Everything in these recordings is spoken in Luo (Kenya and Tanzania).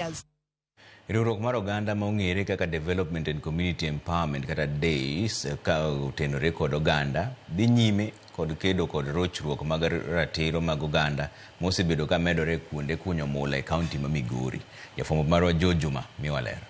areas. Riwruok mar oganda ma ong'ere kaka Development and Community Empowerment kata DACE ka otenore kod oganda dhi nyime kod kedo kod rochruok mag ratiro mag oganda mosebedo ka medore kuonde kunyo mula e kaunti ma Migori. Jafwambo marwa Joe Juma miwa ler.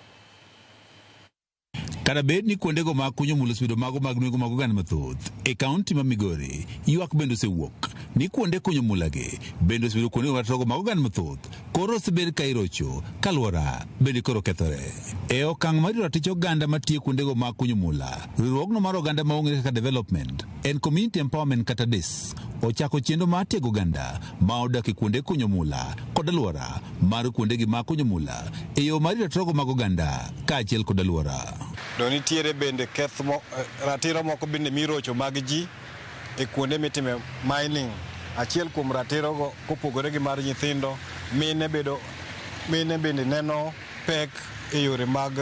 Kata bed ni kuondego mag kunyo mul osebedo mago mag nwengo mag oganda mathoth e kaunti ma Migori, ywak bende osewuok ni kuonde kunyo mulagi bende osebedo kuondego ratorogo mag oganda mathoth koro osebed ka irocho ka alwora bende koro kethore. E okang' marito ratich oganda matiyo kuondego mag kunyo mula, riwruogno mar oganda ma ong'ere kaka Development and Community Empowerment kata DECC ochako chenro mar tiego oganda ma odak e kuonde kunyo mula kod alwora mar kuondegi ma kunyo mula e yo mar ratogo mag oganda kaachiel kod alwora. To nitiere bende keth mo, eh, ratiro moko bende mirocho mag ji e kuonde mitime mining. Achiel kuom ratirogo kopogore gi mar nyithindo, mine bedo mine bende neno pek e yore mag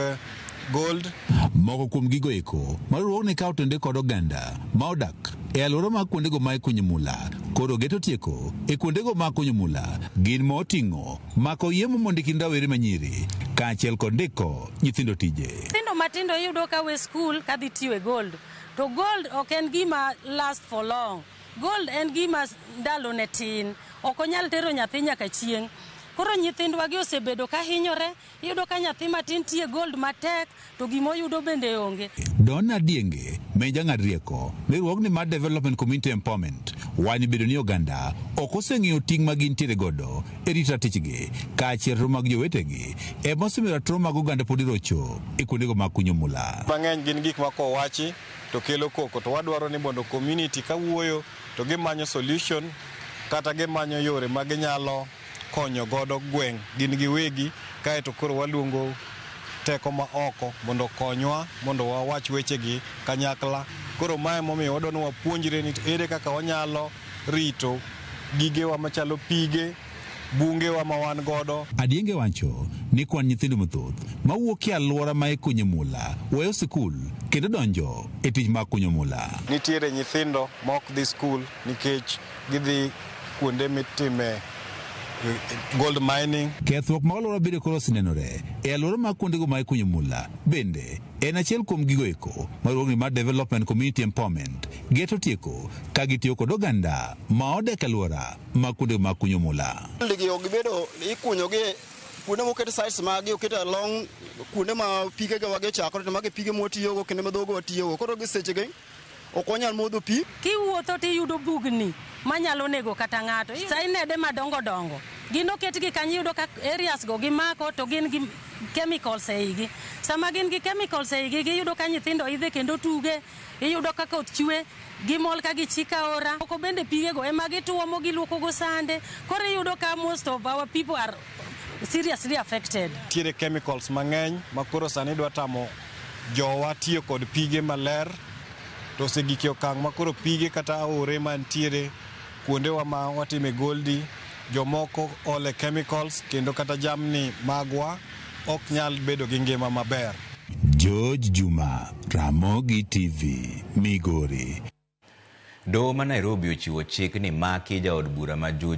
gold. Moko kuom gigo eko ma riwruogni kawo to nende kod oganda ma odak e alwora mag kuondego ma ikunyo mula koro geto tieko e kuondego ma kunyo mula gin ma oting'o mako yie momo ndi kind rawere manyiri kaachiel kod ndiko nyithindo tije. Nyithindo matindo iyudo ka we skul kadhi tiyo e gold to gold ok en gima last for long. Gold en gima ndalone tin, ok onyal tero nyathi nyaka chieng'. Koro nyithindwagi osebedo ka hinyore, iyudo ka nyathi matin tiye gold matek to gima oyudo bende onge. Donna Dienge ma en jang'ad rieko ne riwruogni mar Development Community Empowerment wanyo bedo ni oganda ok oseng'eyo ting' ma gintiere godo e rito ratichgi kaachiel ratiro mag jowetegi ema osemiyo ratiro mag oganda podi rocho e kuondego mag kunyo mula. Mang'eny gin gik ma kowachi. to kelo koko to wadwaro ni mondo community kawuoyo to gimanyo solution kata gimanyo yore ma ginyalo konyo godo gweng' gin giwegi kaeto koro waluongo teko ma oko mondo okonywa mondo wawach wechegi kanyakla. Koro mae momiyo wadwa ni wapuonjre ni ere kaka wanyalo rito gigewa machalo pige. bungewa ma wan godo. Adienge wacho ni kwan nyithindo mathoth mawuok e alwora ma ikunye mula weyo sikul kendo donjo e tich mag kunyo mula. Nitiere nyithindo ma ok dhi skul nikech gidhi kuonde mitime gold mining. Kethruok mag alwora bende koro osenenore e alwora mag kuondego ma ikunyo mula bende en achiel kuom gigo eko ma riwruogni mar Development Community Empowerment geto tieko ka gitiyo kod oganda ma odak e alwora ma kuonde ma kunyo mula. Ligi ok gibedo ikunyo gi kuonde moket sites ma gi oket along kuonde ma pige ga wage chakore to mage pige mwatiyo go kendo ma dhogo watiyo go koro gi seche gi ok wanyal modho pi. Kiwuotho to iyudo bugni manyalo nego kata ng'ato. Sainede madongo dongo gin oketgi kanyo iyudo ka areas go gimako to gin gi chemicals e igi. Sama gin gi chemicals e igi iyudo ka nyithindo idhe kendo tuge, iyudo ka koth chwe. Gimol ka gichik aora. Moko bende pigego ema gituomo giluokogo sande. Koro iyudo ka most of our people are seriously affected. Nitiere chemicals mang'eny ma koro sani dwa tamo jowa tiyo kod pige maler. To osegik e okang' ma koro pige kata aore mantiere kuondewa ma watime goldi, jomoko ole chemicals kendo kata jamni magwa. ok nyal bedo gi ngima maber. George Juma, Ramogi TV, Migori. Doho ma Nairobi ochiwo chik ni maki jaod bura ma Juja,